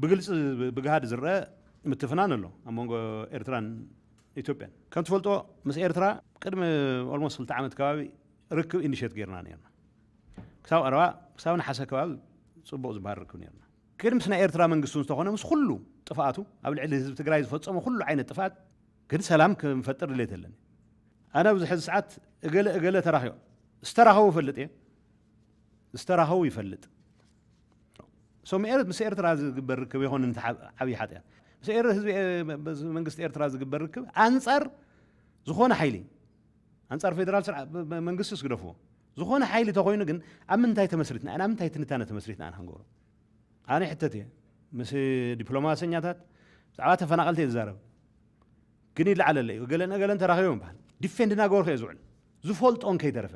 ብግልፂ ብግሃድ ዝረኣ ምትፍናን ኣሎ ኣብ መንጎ ኤርትራን ኢትዮጵያን። ከም ትፈልጦ ምስ ኤርትራ ቅድሚ ኦልሞስት ክልተ ዓመት ከባቢ ርክብ ኢኒሼት ጌርና ኔርና። ክሳብ ቀረባ ክሳብ ነሓሰ ከባቢ ፅቡቕ ዝበሃል ርክብ ኔርና። ግን ምስ ናይ ኤርትራ መንግስቲ እውን ዝተኾነ ምስ ኩሉ ጥፍኣቱ ኣብ ልዕሊ ህዝቢ ትግራይ ዝፈፀሞ ኩሉ ዓይነት ጥፍኣት ግን ሰላም ክንፈጥር ድሌት ኣለኒ። ኣነ ኣብዚ ሕዚ ሰዓት እገለ እገለ ተራኺቦም ዝተራኸቡ እፈልጥ እየ ዝተራኸቡ ይፈልጥ So ምስ ኤርትራ ዝግበር ርክብ ኣይኮነን እቲ ሓ- ዓብዪ ሓጢኣት ምስ ኤር ህዝቢ ኤ- መ- መ- መንግስቲ ኤርትራ ዝግበር ርክብ ኣንጻር ዝኾነ ሓይሊ ኣንጻር ፌደራል ስርዓ መ- መ- መንግስቲ ስግደፍዎ ዝኾነ ሓይሊ ተኮይኑ ግን ኣብ ምንታይ ተመስሪትና ኢና ኣብ ምንታይ ትንታነ ተመስሪትና ኢና ክንገብሮ ኣነ ሕተት እየ ምስ ዲፕሎማሰኛታት ብዛዕባ ተፈናቐልቲ እየ ዝዛረብ ግን ይለዓለለ እዩ ገለን ገለን ተራኺቦም ይበሃል ዲፌንድ እናገበርኩ እየ ዝውዕል ዝፈልጦን ከይተረፈ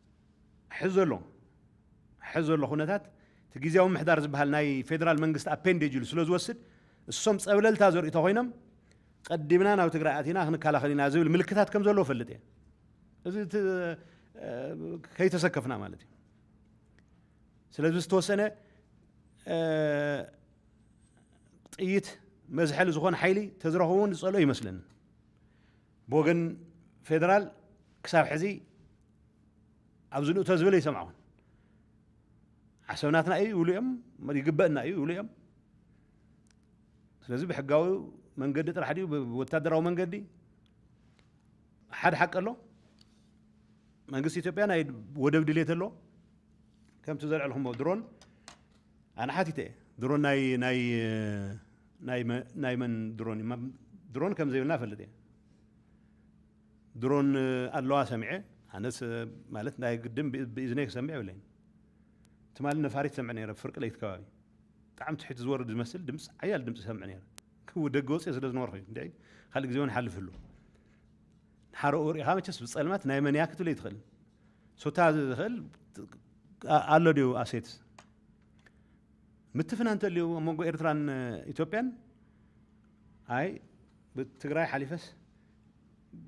ሕዚ ዘሎ ሕዚ ዘሎ ኩነታት እቲ ግዝያዊ ምምሕዳር ዝበሃል ናይ ፌደራል መንግስቲ ኣፔንዴጅ ኢሉ ስለ ዝወስድ እሶም ፀብለልታ ዘርእዩ ተኾይኖም ቀዲምና ናብ ትግራይ ኣቲና ክንከላኸል ኢና ዝብል ምልክታት ከም ዘለዎ ፈልጥ እየ እዚ ከይተሰከፍና ማለት እዩ ስለዚ ዝተወሰነ ጥይት መዝሐሊ ዝኾነ ሓይሊ ተዝረኽቡ እውን ዝፀልኦ ይመስለኒ ብወገን ፌደራል ክሳብ ሕዚ ኣብዚ ንእቶ ዝብል ኣይሰማዕኹን። ዓሰብ ናትና እዩ ይብሉ እዮም፣ ይግበእና እዩ ይብሉ እዮም። ስለዚ ብሕጋዊ መንገዲ ጥራሕ ድዩ ብወታደራዊ መንገዲ ሓደ ሓቂ ኣሎ። መንግስቲ ኢትዮጵያ ናይ ወደብ ድሌት ኣሎ። ከምቲ ዘልዐልኹሞ ድሮን ኣነ ሓቲተ እየ ድሮን ናይ ናይ ናይ መን ድሮን እዩ ድሮን ከም ዘይብልና እፈልጥ እየ ድሮን ኣለዋ ሰሚዐ ኣነስ ማለት ናይ ግድን ብእዝነይ ክሰምዕ የብለይን ትማሊ ነፋሪት ሰምዕ ነይረ ፍርቂ ለይቲ ከባቢ ብጣዕሚ ትሕቲ ዝወርድ ዝመስል ድምፂ ዓያል ድምፂ ሰምዕ ነይረ ክው ደገ ወፅኦ ስለ ዝነበርኩ እንደ ካልእ ግዜ እውን ሓልፍ ህሉ ሓረኡ ርኢኻ መቸስ ብፀልማት ናይ መን እያ ክትብል ኣይትኽእልን ሱታ ዝኽእል ኣሎ ድዩ ኣሴት ምትፍና እንተልዩ ኣብ መንጎ ኤርትራን ኢትዮጵያን ኣይ ብትግራይ ሓሊፈስ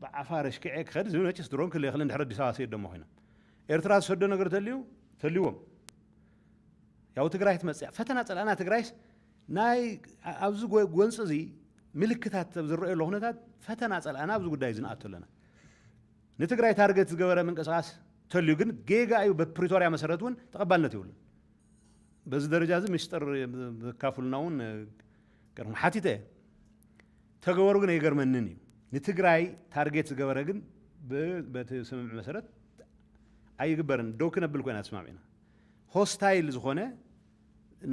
ብዓፋር ኣሽኪዐ ክኸድ ዝብል መጭስ ድሮን ክል የኽልን ድሕሪ ኣዲስ ኣበባ ስየድ ደሞ ኮይኖም ኤርትራ ዝሰዶ ነገር ተልዩ ተልዎም ያው ትግራይ ትመፅያ ፈተና ፀላእና ትግራይስ ናይ ኣብዚ ጎንፂ እዚ ምልክታት ዝረአየሉ ኩነታት ፈተና ፀላእና ኣብዚ ጉዳይ እዚ ንኣቶ ኣለና ንትግራይ ታርገት ዝገበረ ምንቅስቃስ ተልዩ ግን ጌጋ እዩ በፕሪቶርያ መሰረት እውን ተቀባልነት የብሉን በዚ ደረጃ እዚ ምስጢር ዘካፍሉና እውን ገርኩም ሓቲተ እየ ተገበሩ ግን ኣይገርመንን እዩ ንትግራይ ታርጌት ዝገበረ ግን በቲ ስምምዕ መሰረት ኣይግበርን ደው ክነብል ኮይና ተስማሚዕና ሆስታይል ዝኾነ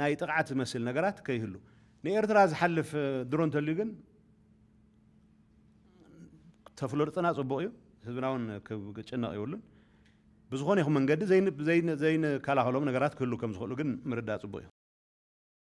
ናይ ጥቕዓት ዝመስል ነገራት ከይህሉ ንኤርትራ ዝሓልፍ ድሮ እንተልዩ ግን ተፍለጡና ጽቡቕ እዩ ህዝብና እውን ክጭነቕ ይብሉን ብዝኾነ ይኹን መንገዲ ዘይንከላኸሎም ነገራት ክህሉ ከም ዝኽእሉ ግን ምርዳእ ጽቡቕ እዩ